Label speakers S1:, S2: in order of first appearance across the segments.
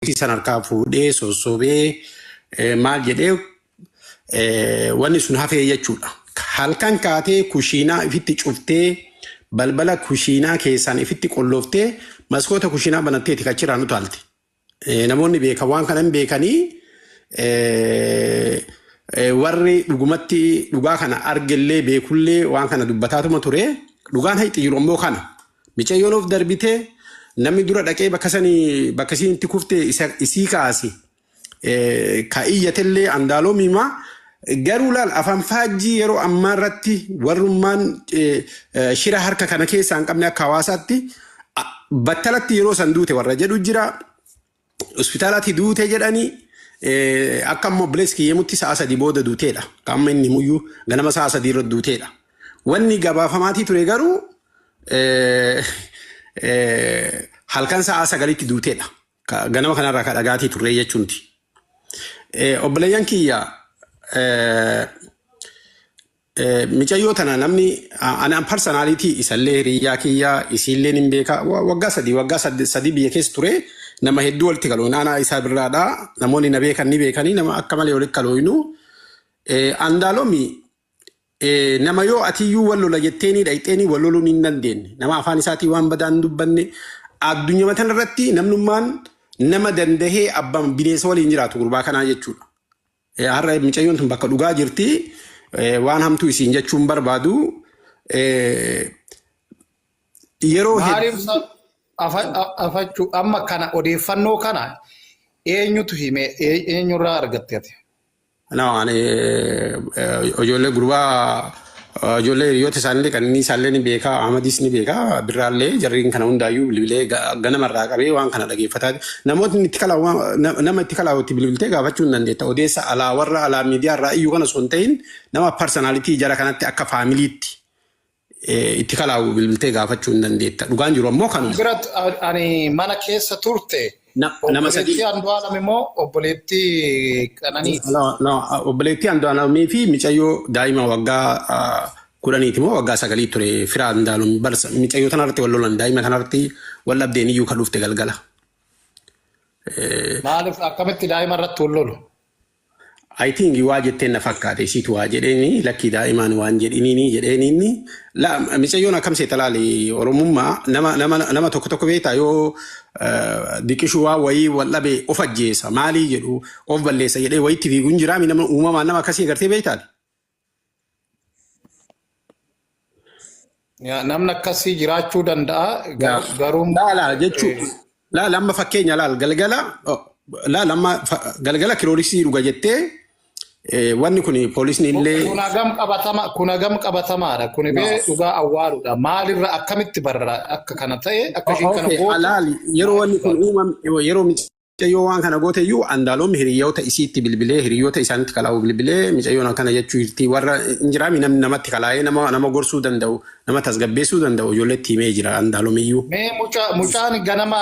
S1: Itti san harkaa fuudhee sossobee eh, maal jedhee eh, wanni sun hafee jechuudha. Halkan kaatee kushiinaa ifitti cuftee balbala kushiinaa keessaan ifitti qolloftee maskoota kushiinaa banatteeti kachiraan utaalte. Eh, Namoonni beekan waan kana hin beekanii eh, eh, warri dhugumatti dhugaa kana argellee beekullee waan kana dubbataatuma ture. Dhugaan haqi jiru ammoo kana. Micayyoon of darbitee namni dura dhaqee bakka sani bakka isiin itti kufte isa isii kaase eh, ka iyyatellee andaaloomiima garuu laal afaan faajjii yeroo ammaa irratti warrummaan eh, eh, shira harka kana keessaa hin qabne akka hawaasaatti a- battalatti yeroo san duute warra jedhu jira hospitaalatti duute jedhanii eh, akka amma obboleessi kiyya himutti sa'a sadii booda duuteedha. Akka amma inni himuyyuu ganama sa'a sadii irra duuteedha. Wanni gabaafamaatii ture garuu eh, eh, halkan sa'a sagalitti duuteedha. Ka- Ganama kanarraa ka dhagaatii turre jechuuti. Eh, Obboleeyyan kiyya eh, Micayyoo tana namni anaan parsanaaliti isallee hiriyyaa kiyya isiillee nin beeka waggaa sadii waggaa sadii biyya keessa ture nama hedduu walitti kalooyin aanaa isaa birraadha namoonni na beekan ni beekanii nama akka malee walitti kalooyinu andaalomi nama yoo atiyyuu wal lola jetteenii dhayxeenii wal loluu ni dandeenye nama afaan isaatii waan badaa hin dubbanne addunyaa matan irratti namnummaan nama dandahee abbaan bineensa waliin jiraatu gurbaa kanaa jechuudha. Eh, Har'a micayyoon tun bakka dhugaa jirti. Eh, Waan hamtuu isiin jechuun barbaadu. Eh, Yeroo Maaliif hedduu sa- afa-
S2: a- afachuu amma kana odeeffannoo kana eenyutu hime Ee- eenyurraa argatte ati? no, ani, eh, eh,
S1: ijoollee gurbaa Ijoollee hiriyoota isaanillee qananiisaallee ni beeka, Ahmadiis ni beeka, birraallee jarriin kana hundaayyuu bilbilee ga- ganamarraa qabee waan kana dhageeffataa namootni itti kalaa waan- na- nama itti kalaa itti bilbiltee gaafachuu hin dandeetta. Odeessa alaa warra alaa miidiyaa irraa iyyuu kana osoo hin ta'in nama parsanalitii jara kanatti akka faamiliitti eh, itti kalaawu bilbiltee gaafachuu hin dandeetta. Dhugaan jiru ammoo kanuma. Birat ani
S2: mana keessa turte Na- Nama
S1: sadii
S2: Obboleettii Andu'aalam immoo obboleettii
S1: Qananii. No, no, obboleettii Andu'aalamii fi micayyoo daa'ima waggaa ah, kudhaniiti moo waggaa sagalii ture firaa Andu'aalam barsa micayyoo tanarratti wal lolan daa'ima tanarratti wal dhabdeen iyyuu kan dhufte galgala.
S2: Maaliif akkamitti daa'ima irratti wal lolu? I
S1: think waa jetteen na fakkaate isiitu waa jedheeni lakkii daa'imaan waan jedhiniini jedheeni inni la micayyoon akkam seeta laali oromummaa nama nama nama tokko tokko beektaa yoo eh, diqishuu waa wayii wal dhabe of ajjeesa maalii jedhu of balleessa jedhee wayitti fiiguun jiraami nama uumamaan nama akkasii agartee beektaati.
S2: Yaa, Namni akkasii jiraachuu danda'a Yaa, gar- garuu laa laa jechuu eh,
S1: laa lamma fakkeenya laal galgala oh, laa lamma fa- galgala kirooliksii dhuga jettee eh, wanni kun poolisni kun illee kun hagam qabatama kun
S2: hagam qabatamaadha kun bee yaa. dhugaa awwaaludha maalirra akkamitti barra akka kana ta'e akka O- ishiin kana Okay, gootu alaali yeroo
S1: wanni kun uumam yeroo Isheen yoo waan kana goote iyyuu Andaalom hiriyoota isiitti bilbilee hiriyoota isaanitti kalaa'u bilbilee micayyoon akkana jechuu jirti warra hin jiraami namni namatti kalaa'ee nama nama gorsuu danda'u nama tasgabbeessuu danda'u ijoolleetti himee jira Andaalom iyyuu. Mee muca- mucaan
S2: ganama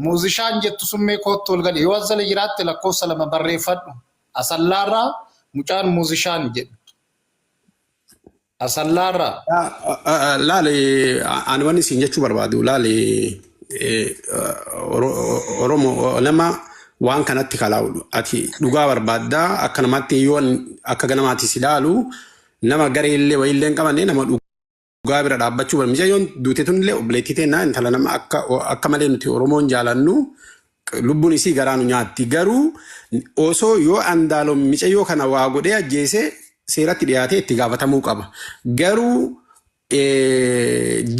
S2: muuzishaan jettu sun mee koottu ol gadi yoo asala jiraatte lakkoofsa lama barreeffadhu. Asallaarraa mucaan muuzishaan jedhu. Asallaarraa. Laali
S1: ani wanni isin jechuu barbaadu laali Oromoo nama waan kanatti kalaa'u ati dhugaa barbaaddaa akka namaatti yoo akka ganamaatti si laalu nama garee illee wayii illee hin qabane nama dhugaa bira dhaabbachuu barbaadu yoo duute tun illee obboleettii teennaa intala nama akka akka malee nuti Oromoon jaalannu Lubbun isii garaa nu nyaatti garuu oso yoo andaalom micayyoo kana waa godhee ajjeese seeratti dhiyaatee itti gaafatamuu qaba garuu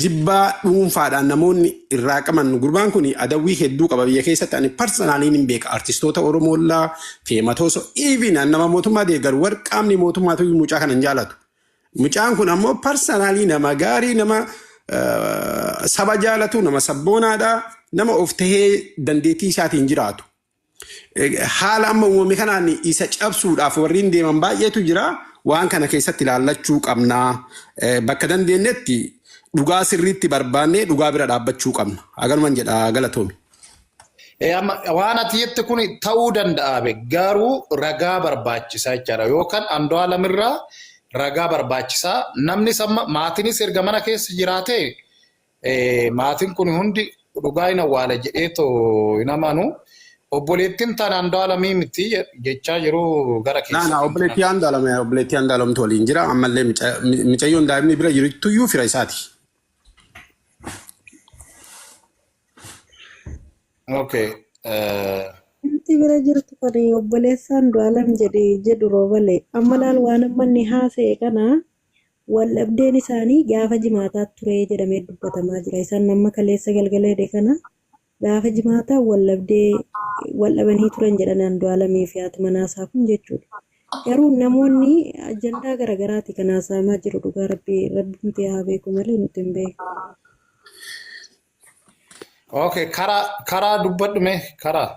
S1: jibbaa dhuunfaadhaan namoonni irraa qaban gurbaan kun adawwii hedduu qaba biyya keessatti ani parsanaalii ni beeka artistoota oromoollaa feematooso even nama mootummaa deeggaru warqaamni mootummaatu mucaa kana hin jaalatu Mucaan kun ammoo parsanaalii nama gaarii nama saba jaalatu nama sabboonaadha nama of tahee dandeettii isaatiin jiraatu. Haala amma uumame kanaan isa cabsuudhaaf warreen deeman baay'eetu jira. Waan kana keessatti ilaallachuu qabna. Bakka dandeenyetti dhugaa sirriitti barbaannee dhugaa bira dhaabbachuu qabna. Agaluman jedha galatoomi. Eh, amma
S2: waan ati jette kun ta'uu danda'a be garuu ragaa barbaachisaa jechaadha yookaan Andu'aalam irraa ragaa barbaachisaa namni samma maatiinis erga mana keessa jiraate eh, maatiin kun hundi dhugaa hin awwaala jedhee too hin amanu obboleettiin tan Andu'aalamii miti je- jechaa jiru gara Naa keessa naa kan obboleettii jiraatu. Andu'aalam
S1: obboleettii Andu'aalamtu waliin jira ammallee mica- mi- micayyoon daa'imni bira jirtuyyuu fira isaati.
S2: Okay. eh,
S3: Namti bira jirtu kan obboleessaan du'aalam jedhe jedhu roobale. Amma laal waan amma inni haasa'e kana wal dhabdeen isaanii gaafa jimaataa ture jedhamee dubbatamaa jira. Isaan nama kaleessa galgala hidhe kana gaafa jimaataa wal dhabdee wal dhabanii turan jedhanaan du'aalamii fi haati manaa isaa kun jechuudha. Garuu namoonni ajandaa garaagaraati kan haasa'amaa jiru dhugaa rabbi rabbumti haa beeku malee nuti hin beeku.
S2: Okay, karaa karaa dubbadhu mee karaa.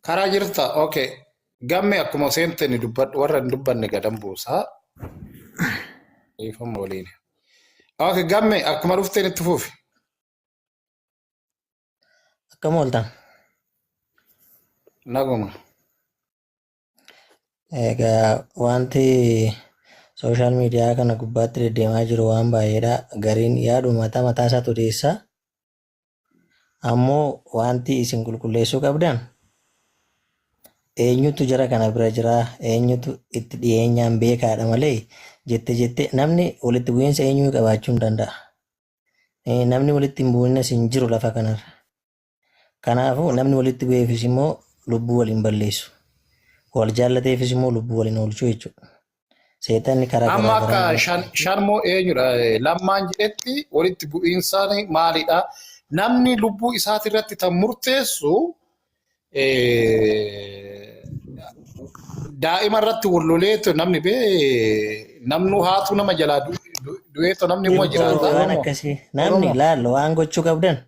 S2: Karaa jirta. Okay. Gamme akkuma seente ni dubbadhu warra hin dubbanne gadan buusaa. Dhiifama waliin. Okay, gamme akkuma dhufteen itti fufi.
S4: Akkam ooltan?
S2: Naguma.
S4: Egaa wanti sooshaal miidiyaa kana gubbaatti deddeemaa jiru waan baay'eedha. Gariin yaadu mataa mataa isaatu odeessa. Ammoo wanti isin qulqulleessuu qabdan eenyutu jara kana bira jira eenyutu itti dhiyeenyaan beekaadha malee jette jette namni walitti bu'iinsa eenyuu qabaachuu hin danda'a. Eh, Namni walitti hin bu'inas hin jiru lafa kanarra. Kanaafuu namni walitti bu'eefis immoo lubbuu wal hin balleessu. Wal jaallateefis immoo lubbuu wal hin oolchu jechuudha. Seexanni karaa Amma garaa akka garaa shan-
S2: shanmoo eenyudha eh, lammaan jedhetti walitti bu'iinsaan maalidha? Namni lubbuu isaati irratti kan murteessu eh, daa'ima irratti wal loleetu namni bee namnuu haatu nama jalaa du- du- du'eetu namni immoo Oromoo jiraata. waan Oromoo. akkasii
S4: namni Oromoo. laal waan gochuu qabdan